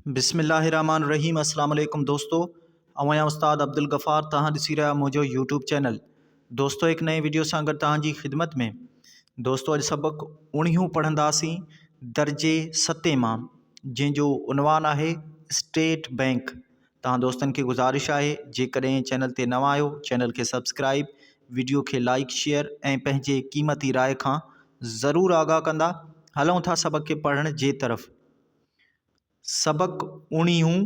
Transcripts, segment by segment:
بسم الله الرحمٰن الرحيم اسلام عليڪم دوستو اوهان يا استاد عبدالغفار توهان ڏسي رهيا منهنجو يوٽيوب چينل دوستو هڪ نئين ويڊيو سان گڏ توهان جي خدمت ۾ دوستو اڄ سبق اوڻيهون پڙهنداسين درجي ستين مان جنهن جو عنوان آهي اسٽيٽ بئنڪ توهان دوستن کي گذارش آهي جيڪڏهن چينل تي نوان آهيو چينل کي سبسڪرائب ويڊيو کي لائڪ شيئر ۽ پنهنجي قيمتي راء کان ضرور آگاهه ڪندا هلون ٿا سبق کي پڙهڻ جي طرف سبق اڻيهون،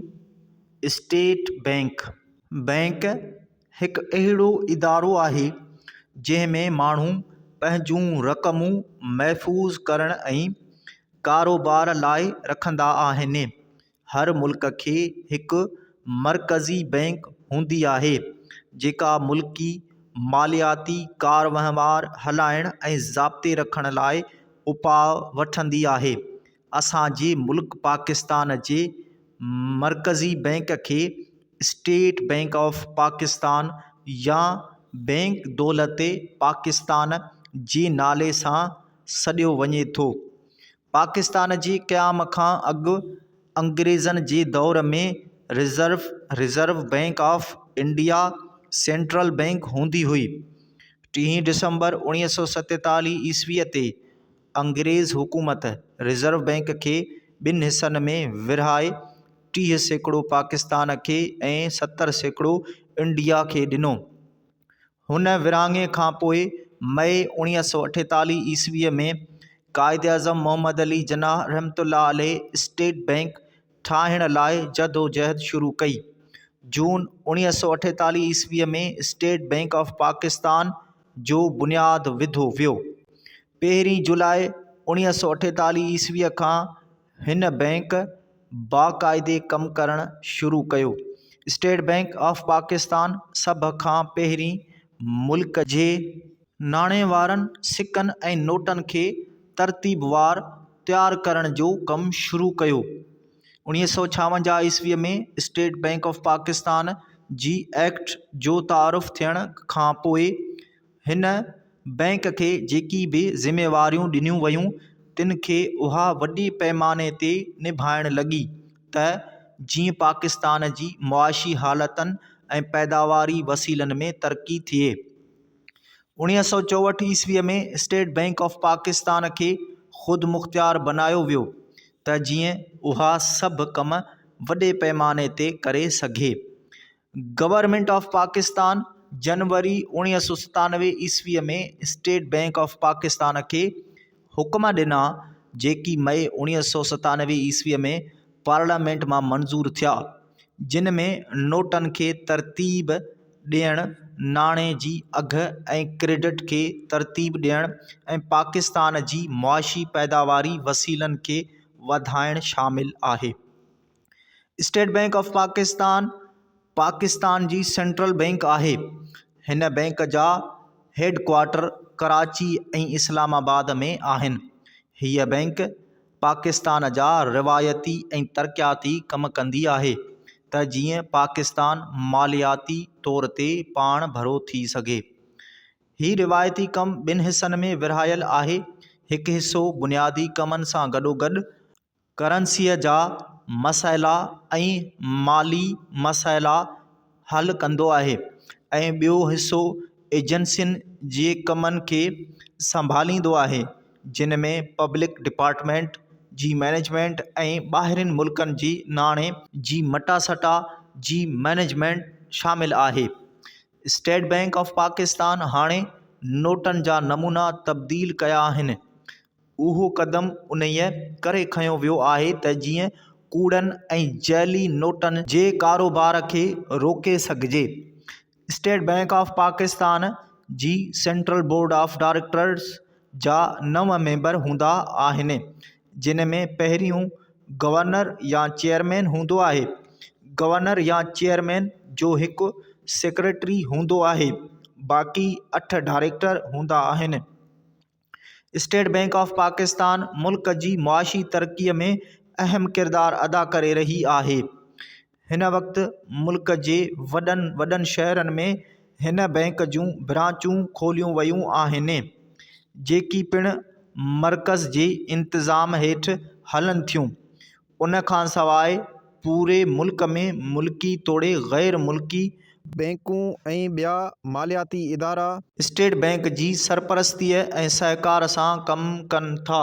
اسٽيٽ بئنڪ، بئنڪ هڪ اهڙو ادارو آهي جنهن ۾ ماڻهو پنهنجون رقمون محفوظ ڪرڻ ۽ ڪاروبار لاء رکندا آهن هر ملڪ کي هڪ مرڪزي بئنڪ هوندي آهي جيڪا ملڪي مالياتي ڪار وهنوار هلائڻ ۽ ضابطي رکڻ لاء اپاء وٺندي آهي اسان جي ملڪ پاڪستان جي مرڪزي بئنڪ کي اسٽيٽ بئنڪ آف پاڪستان يا بئنڪ دولت پاڪستان جي نالي سان سڏيو وڃي ٿو پاڪستان جي قيام کان اڳ انگريزن جي دور ۾ Reserve Reserve Bank of India central bank هوندي هئي ٽيهين ڊسمبر اڻويهه سو ستيتاليهه عيسويء تي انگريز حڪومت رزرو بئنڪ کي ٻن حصن ۾ ورهائي ٽيهه سيڪڙو پاڪستان کي ۽ ستر سيڪڙو انڊيا کي ڏنو. هن ورهاڱي کان پوء مئي اوڻيهه سؤ اٺيتاليهه عيسويء ۾ قائداعظم محمد علي جناح رحمة الله عليه اسٽيٽ بئنڪ ٺاهڻ لاء جدوجهد شروع ڪئي. جون اوڻيهه سؤ اٺيتاليهه عيسويء ۾ اسٽيٽ بئنڪ آف پاڪستان جو بنياد وڌو ويو. پهرين جولاء اوڻيهه سؤ اٺيتاليهه عيسويء کان هن بئنڪ باقاعدي ڪم ڪرڻ شروع ڪيو. اسٽيٽ بئنڪ آف پاڪستان سڀ کان پهرين ملڪ جي ناڻي وارن سڪن ۽ نوٽن کي ترتيبوار تيار ڪرڻ جو ڪم شروع ڪيو. اوڻيهه سؤ ڇاونجاهه عيسويء ۾ اسٽيٽ بئنڪ آف پاڪستان جي ايڪٽ جو تعارف ٿيڻ کان پوء، هن بئنڪ کي جيڪي به ذميواريون ڏنيون ويون تن کي اها وڏي پئماني تي نڀائڻ لڳي ته جيئن پاڪستان جي معاشي حالتن ۽ پيداواري وسيلن ۾ ترقي ٿئي. اوڻيهه سؤ چوهٺ عيسوي ۾ اسٽيٽ بئنڪ آف پاڪستان کي خودمختيار بنايو ويو ته جيئن اها سڀ ڪم وڏي پئماني تي ڪري سگهي. گورنمينٽ آف پاڪستان جنوري اوڻيهه سؤ ستانوي عيسويء ۾ اسٽيٽ بئنڪ آف پاڪستان کي حڪم ڏنا جيڪي مئي اوڻيهه سؤ ستانوي عيسويء ۾ پارليامينٽ مان منظور ٿيا جن ۾ نوٽن کي ترتيب ڏيڻ ناڻي جي اگهه ۽ ڪريڊٽ کي ترتيب ڏيڻ ۽ پاڪستان جي معاشي پيداواري وسيلن کي وڌائڻ شامل آهي State Bank of Pakistan Pakistan جي سينٽرل بئنڪ آهي. هن بئنڪ جا headquarter Karachi ۽ Islamabad ۾ آهن. هيء بئنڪ پاڪستان جا روايتي ۽ ترقياتي ڪم ڪندي آهي ته جيئن پاڪستان مالياتي طور تي پاڻ ڀرو ٿي سگهي. هي روايتي ڪم ٻن حصن ۾ ورهايل آهي، هڪ حصو بنيادي ڪمن سان گڏوگڏ ڪرنسيء جا مسئلا ۽ مالي مسئلا حل ڪندو آهي ۽ ٻيو حصو ايجنسين جي ڪمن کي سنڀاليندو آهي جن ۾ پبلڪ ڊپارٽمينٽ جي مئنيجمينٽ ۽ ٻاهرين ملڪن جي ناڻي جي مٽاسٽا جي مئنيجمينٽ شامل آهي اسٽيٽ بئنڪ آف پاڪستان هاڻي نوٽن جا نمونا تبديل ڪيا آهن اهو قدم انهيء ڪري کنيو ويو آهي ته جيئن ڪوڙن ۽ جعلي نوٽن جي ڪاروبار کي روڪي سگهجي. اسٽيٽ بئنڪ آف پاڪستان جي سينٽرل بورڊ آف ڊائريڪٽرز جا نو ميمبر هوندا آهن، جن ۾ پهريون گورنر يا چيئرمين هوندو آهي. گورنر يا چيئرمين جو هڪ سيڪريٽري هوندو آهي، باقي اٺ ڊائريڪٽر هوندا آهن. اسٽيٽ بئنڪ آف پاڪستان ملڪ جي معاشي ترقي ۾ اهم ڪردار ادا ڪري رهي آهي هن وقت ملڪ جي وڏن وڏن شهرن ۾ هن بئنڪ جون برانچون کوليون ويون آهن جيڪي پڻ مرڪز جي انتظام هيٺ هلن ٿيون ان کان سواء پوري ملڪ ۾ ملڪي توڙي غير ملڪي بئنڪون ۽ ٻيا مالياتي ادارا. اسٽيٽ بئنڪ جي سرپرستيء ۽ سهڪار سان ڪم ڪن ٿا.